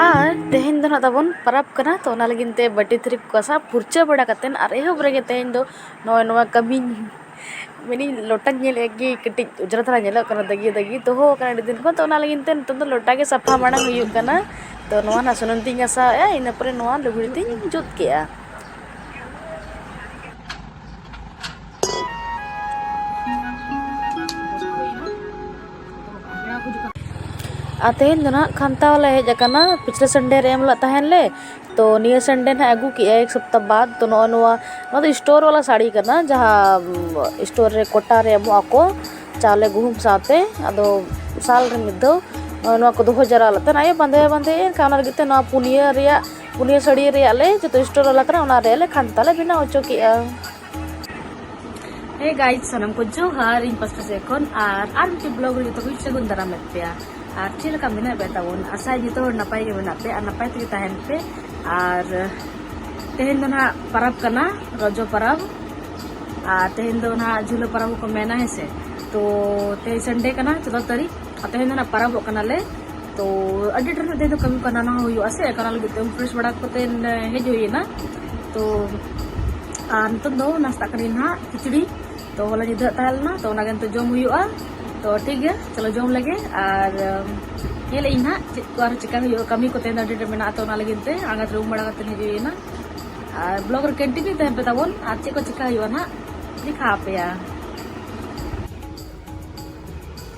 ᱟᱨ ᱛᱮᱦᱮᱧ ᱫᱚ ᱱᱟᱦᱟᱜ ᱛᱟᱵᱚᱱ ᱯᱚᱨᱚᱵᱽ ᱠᱟᱱᱟ ᱛᱚ ᱚᱱᱟ ᱞᱟᱹᱜᱤᱫ ᱛᱮ ᱵᱟᱹᱴᱤ ᱛᱷᱟᱹᱨᱤ ᱠᱚ ᱜᱟᱥᱟᱣ ᱯᱷᱟᱨᱪᱟ ᱵᱟᱲᱟ ᱠᱟᱛᱮᱫ ᱟᱨ ᱮᱦᱚᱵ ᱨᱮᱜᱮ ᱛᱮᱦᱮᱧ ᱫᱚ ᱱᱚᱜᱼᱚᱭ ᱱᱚᱣᱟ ᱠᱟᱹᱢᱤᱧ ᱢᱮᱱᱮᱫ ᱞᱚᱴᱟᱧ ᱧᱮᱞᱮᱫ ᱜᱮ ᱠᱟᱹᱴᱤᱡ ᱚᱡᱽᱨᱟ ᱫᱷᱟᱨᱟ ᱧᱮᱞᱚᱜ ᱠᱟᱱᱟ ᱫᱟᱹᱜᱤ ᱫᱟᱹᱜᱤ ᱫᱚᱦᱚ ᱟᱠᱟᱱᱟ ᱟᱹᱰᱤ ᱫᱤᱱ ᱠᱷᱚᱱ ᱛᱚ ᱚᱱᱟ ᱞᱟᱹᱜᱤᱫ ᱛᱮ ᱱᱤᱛᱚᱜ ᱫᱚ ᱞᱚᱴᱟ ᱜᱮ ᱥᱟᱯᱷᱟ ᱢᱟᱲᱟᱝ ᱦᱩᱭᱩᱜ ᱠᱟᱱᱟ ᱛᱚ ᱱᱚᱣᱟ ᱱᱟᱦᱟᱜ ᱥᱩᱱᱩᱢ ᱛᱤᱧ ᱜᱟᱥᱟᱣᱮᱫᱼᱟ ᱤᱱᱟᱹ ᱯᱚᱨᱮ ᱱᱚᱣᱟ ᱞᱩᱜᱽᱲᱤ ᱛᱤᱧ ᱡᱩᱛ ᱠᱮᱫᱼᱟ ᱟᱨ ᱛᱮᱦᱮᱧ ᱫᱚ ᱱᱟᱦᱟᱜ ᱠᱷᱟᱱᱛᱟ ᱞᱮ ᱦᱮᱡ ᱟᱠᱟᱱᱟ ᱯᱤᱪᱷᱞᱮ ᱥᱟᱱᱰᱮ ᱨᱮ ᱮᱢ ᱞᱮᱫ ᱛᱟᱦᱮᱱ ᱞᱮ ᱛᱚ ᱱᱤᱭᱟᱹ ᱥᱟᱱᱰᱮ ᱱᱟᱦᱟᱜ ᱟᱹᱜᱩ ᱠᱮᱜᱼᱟᱭ ᱮᱠ ᱥᱚᱯᱛᱟ ᱵᱟᱫ ᱛᱚ ᱱᱚᱜᱼᱚ ᱱᱚᱣᱟ ᱱᱚᱣᱟ ᱫᱚ ᱥᱴᱳᱨ ᱵᱟᱞᱟ ᱥᱟᱹᱲᱤ ᱠᱟᱱᱟ ᱡᱟᱦᱟᱸ ᱥᱴᱳᱨ ᱨᱮ ᱠᱚᱴᱟ ᱨᱮ ᱮᱢᱚᱜ ᱟᱠᱚ ᱪᱟᱣᱞᱮ ᱜᱩᱦᱩᱢ ᱥᱟᱶᱛᱮ ᱟᱫᱚ ᱥᱟᱞ ᱨᱮ ᱢᱤᱫ ᱫᱷᱟᱣ ᱱᱚᱣᱟ ᱠᱚ ᱫᱚᱦᱚ ᱡᱟᱣᱨᱟ ᱞᱮᱫ ᱛᱟᱦᱮᱱ ᱟᱭᱳ ᱵᱟᱸᱫᱮ ᱵᱟᱸᱫᱮ ᱮᱱᱠᱷᱟᱱ ᱚᱱᱟ ᱞᱟᱹᱜᱤᱫ ᱛᱮ ᱱᱚᱣᱟ ᱯᱩᱱᱭᱟᱹ ᱨᱮᱭᱟᱜ ᱯᱩᱱᱭᱟᱹ ᱥᱟᱹᱲᱤ ᱨᱮᱭᱟᱜ ᱞᱮ ᱡᱚᱛᱚ ᱥᱴᱳᱨ ᱵᱟᱞᱟ ᱠᱟᱱᱟ ᱚᱱᱟ ᱨᱮᱭᱟᱜ ᱞᱮ ᱠᱷᱟᱱᱛᱟ ᱞᱮ ᱵᱮᱱᱟᱣ ᱦᱚᱪᱚ ᱠᱮᱜᱼᱟ ᱦᱮ ᱜᱟᱭᱤᱡ ᱥᱟᱱᱟᱢ ᱠᱚ ᱡᱚᱦᱟᱨ ᱤᱧ ᱯᱟᱥᱴᱟ ᱥᱮᱫ ᱠᱷᱚᱱ ᱟᱨ ᱟᱨ ᱢᱤᱫᱴᱤᱡ ᱵᱞᱚᱜ ᱨᱮ ᱡᱚᱛᱚ ᱠᱚ ᱥᱟᱹᱜᱩᱱ ᱫᱟᱨᱟᱢ ᱞᱮᱫ ᱯᱮᱭᱟ ᱟᱨ ᱪᱮᱫ ᱞᱮᱠᱟ ᱢᱮᱱᱟᱜ ᱯᱮ ᱛᱟᱵᱚᱱ ᱟᱥᱟᱭ ᱡᱚᱛᱚ ᱦᱚᱲ ᱱᱟᱯᱟᱭ ᱜᱮ ᱢᱮᱱᱟᱜ ᱯᱮ ᱟᱨ ᱱᱟᱯᱟᱭ ᱛᱮᱜᱮ ᱛᱟᱦᱮᱱ ᱯᱮ ᱟᱨ ᱛᱮᱦᱮᱧ ᱫᱚ ᱱᱟᱦᱟᱜ ᱯᱟᱨᱟᱵᱽ ᱠᱟᱱᱟ ᱨᱚᱡᱚ ᱯᱟᱨᱟᱵᱽ ᱟᱨ ᱛᱮᱦᱮᱧ ᱫᱚ ᱱᱟᱦᱟᱜ ᱡᱷᱩᱞᱟᱹ ᱯᱟᱨᱟᱵᱽ ᱦᱚᱸᱠᱚ ᱢᱮᱱᱟ ᱦᱮᱸ ᱥᱮ ᱛᱚ ᱛᱮᱦᱮᱧ ᱥᱟᱱᱰᱮ ᱠᱟᱱᱟ ᱪᱚᱫᱫᱚ ᱛᱟᱹᱨᱤᱠᱷ ᱛᱮᱦᱮᱧ ᱫᱚ ᱱᱟᱜ ᱯᱟᱨᱟᱵᱚᱜ ᱠᱟᱱᱟᱞᱮ ᱛᱚ ᱟᱹᱰᱤ ᱰᱷᱮᱨ ᱛᱮᱦᱮᱧ ᱫᱚ ᱠᱟᱹᱢᱤ ᱠᱚ ᱦᱟᱱᱟ ᱱᱟᱣᱟ ᱦᱩᱭᱩᱜᱼᱟ ᱥᱮ ᱚᱱᱟ ᱞᱟᱹᱜᱤᱫ ᱛᱮ ᱯᱷᱨᱮᱥ ᱵᱟᱲᱟ ᱠᱟᱛᱮ ᱦᱮᱡ ᱦᱩᱭᱮᱱᱟ ᱛᱚ ᱟᱨ ᱱᱤᱛᱚᱜ ᱫᱚ ᱱᱟᱥᱛᱟᱜ ᱠᱟᱹᱱᱟᱹᱧ ᱱᱟᱜ ᱠᱷᱤᱪᱲᱤ ᱛᱚ ᱦᱚᱞᱟ ᱧᱤᱫᱟᱹ ᱛᱟᱦᱮᱸ ᱞᱮᱱᱟ ᱛᱚ ᱚᱱᱟᱜᱮ ᱱᱤᱛᱚᱜ ᱡᱚᱢ ᱦᱩᱭᱩᱜᱼᱟ ᱛᱚ ᱴᱷᱤᱠ ᱜᱮᱭᱟ ᱪᱚᱞᱚ ᱡᱚᱢ ᱞᱮᱜᱮ ᱟᱨ ᱧᱮᱞ ᱤᱧ ᱱᱟᱜ ᱪᱮᱫ ᱠᱚ ᱟᱨᱦᱚᱸ ᱪᱮᱠᱟ ᱦᱩᱭᱩᱜᱼᱟ ᱠᱟᱹᱢᱤ ᱠᱚ ᱛᱮᱦᱮᱧ ᱫᱚ ᱟᱹᱰᱤ ᱰᱷᱮᱨ ᱢᱮᱱᱟᱜᱼᱟ ᱛᱚ ᱚᱱᱟ ᱞᱟᱹᱜᱤᱫ ᱛᱮ ᱟᱬᱜᱟᱛ ᱨᱩᱢ ᱵᱟᱲᱟ ᱠᱟᱛᱮ ᱦᱮᱡ ᱦᱩᱭᱮᱱᱟ ᱟᱨ ᱵᱞᱚᱜ ᱨᱮ ᱠᱚᱱᱴᱤᱱᱤᱭᱩ ᱛᱟᱦᱮᱸ ᱯᱮ ᱛᱟᱵᱚᱱ ᱟᱨ ᱪᱮᱫ ᱠᱚ ᱪᱮᱠᱟ ᱦᱩᱭᱩᱜᱼᱟ ᱱᱟᱜ ᱫᱮᱠᱷᱟᱣ ᱟᱯᱮᱭᱟ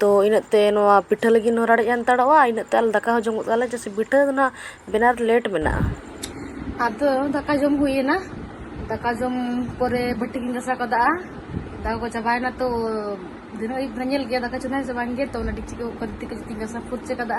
ᱛᱚ ᱤᱱᱟᱹᱜ ᱛᱮ ᱱᱚᱣᱟ ᱯᱤᱴᱷᱟᱹ ᱞᱟᱹᱜᱤᱫ ᱦᱚᱸ ᱨᱟᱲᱮᱡ ᱦᱟᱱᱛᱟᱲᱚᱜᱼᱟ ᱤᱱᱟᱹᱜ ᱛᱮ ᱟᱞᱮ ᱫᱟᱠᱟ ᱦᱚᱸ ᱡᱚᱢᱚᱜ ᱛᱟᱞᱮᱭᱟ ᱪᱮᱫᱟᱜ ᱥᱮ ᱯᱤᱴᱷᱟᱹ ᱫᱚ ᱱᱟᱦᱟᱜ ᱵᱮᱱᱟᱣ ᱨᱮ ᱞᱮᱴ ᱢᱮᱱᱟᱜᱼᱟ ᱟᱫᱚ ᱫᱟᱠᱟ ᱡᱚᱢ ᱦᱩᱭᱮᱱᱟ ᱫᱟᱠᱟ ᱡᱚᱢ ᱯᱚᱨᱮ ᱵᱟᱹᱴᱤ ᱠᱚᱧ ᱜᱟᱥᱟᱣ ᱠᱟᱫᱟ ᱫᱟᱠᱟ ᱠᱚ ᱪᱟᱵᱟᱭᱮᱱᱟ ᱛᱚ ᱫᱤᱱᱟᱹᱢ ᱟᱹᱭᱩᱵ ᱫᱚ ᱧᱮᱞ ᱜᱮᱭᱟ ᱫᱟᱠᱟ ᱪᱚᱸᱫᱟᱭᱟᱹᱧ ᱥᱮ ᱵᱟᱝᱜᱮ ᱛᱚ ᱚᱱᱟ ᱰᱮᱠᱪᱤ ᱠᱚ ᱛᱤ ᱠᱚ ᱡᱚᱛᱚᱧ ᱜᱟᱥᱟᱣ ᱯᱷᱟᱹᱨᱪᱟᱹ ᱠᱟᱫᱟ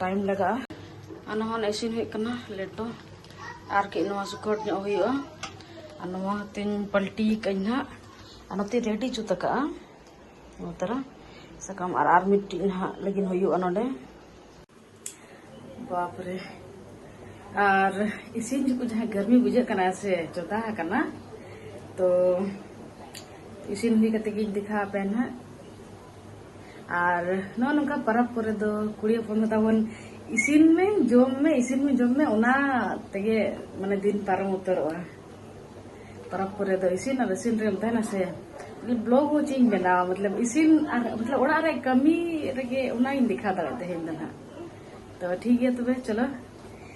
ᱴᱟᱭᱤᱢ ᱞᱟᱜᱟᱜᱼᱟ ᱟᱨ ᱱᱚᱣᱟ ᱤᱥᱤᱱ ᱦᱩᱭᱩᱜ ᱠᱟᱱᱟ ᱞᱮᱴᱚ ᱟᱨ ᱠᱟᱹᱡ ᱱᱚᱣᱟ ᱥᱩᱠᱷᱚᱴ ᱧᱚᱜ ᱦᱩᱭᱩᱜᱼᱟ ᱟᱨ ᱱᱚᱣᱟ ᱦᱚᱛᱮᱧ ᱯᱟᱞᱴᱤ ᱠᱟᱹᱧ ᱦᱟᱸᱜ ᱟᱨ ᱱᱚᱛᱮ ᱨᱮᱰᱤ ᱡᱩᱛ ᱟᱠᱟᱜᱼᱟ ᱱᱚᱣᱟ ᱛᱟᱨᱟ ᱥᱟᱠᱟᱢ ᱟᱨ ᱟᱨ ᱢᱤᱫᱴᱤᱡ ᱱᱟᱦᱟᱜ ᱞᱟᱹᱜᱤᱫ ᱦᱩᱭᱩᱜᱼᱟ ᱱᱚᱰᱮ ᱵᱟᱯᱨᱮ ᱟᱨ ᱤᱥᱤᱱ ᱡᱚᱠᱷᱚᱱ ᱡᱟᱦᱟᱸ ᱜᱟᱨᱢᱤ ᱵᱩᱡᱷᱟᱹᱜ ᱠᱟᱱᱟ ᱥᱮ ᱪᱚᱫᱟ ᱟᱠᱟᱱᱟ ᱛᱚ ᱤᱥᱤᱱ ᱦᱩᱭ ᱠᱟᱛᱮ ᱜᱤᱧ ᱫᱮᱠᱷᱟᱣ ᱟᱯᱮᱭᱟ ᱱᱟᱦᱟᱜ ᱟᱨ ᱱᱚᱜᱼᱚ ᱱᱚᱝᱠᱟ ᱯᱟᱨᱟᱵᱽ ᱠᱚᱨᱮ ᱫᱚ ᱠᱩᱲᱤ ᱦᱚᱯᱚᱱ ᱫᱚ ᱛᱟᱵᱚᱱ ᱤᱥᱤᱱ ᱢᱮ ᱡᱚᱢ ᱢᱮ ᱤᱥᱤᱱ ᱢᱮ ᱡᱚᱢ ᱢᱮ ᱚᱱᱟ ᱛᱮᱜᱮ ᱢᱟᱱᱮ ᱫᱤᱱ ᱯᱟᱨᱚᱢ ᱩᱛᱟᱹᱨᱚᱜᱼᱟ ᱯᱟᱨᱟᱵᱽ ᱠᱚᱨᱮ ᱫᱚ ᱤᱥᱤᱱ ᱟᱨ ᱤᱥᱤᱱ ᱨᱮᱢ ᱛᱟᱦᱮᱱᱟ ᱥᱮ ᱵᱞᱚᱜ ᱦᱚᱸ ᱪᱮᱫ ᱤᱧ ᱵᱮᱱᱟᱣᱟ ᱢᱚᱛᱞᱚᱵ ᱤᱥᱤᱱ ᱟᱨ ᱢᱚᱛᱞᱚᱵ ᱚᱲᱟᱜ ᱨᱮ ᱠᱟᱹᱢᱤ ᱨᱮᱜᱮ ᱚᱱᱟᱧ ᱫᱮᱠᱷᱟᱣ ᱫᱟᱲᱮᱭᱟᱜ ᱛᱮᱦᱮᱧ ᱫᱚ ᱱᱟᱦᱟᱜ ᱛᱚ ᱴᱷᱤᱠ ᱜᱮᱭᱟ ᱛᱚᱵᱮ ᱪᱚᱞᱚ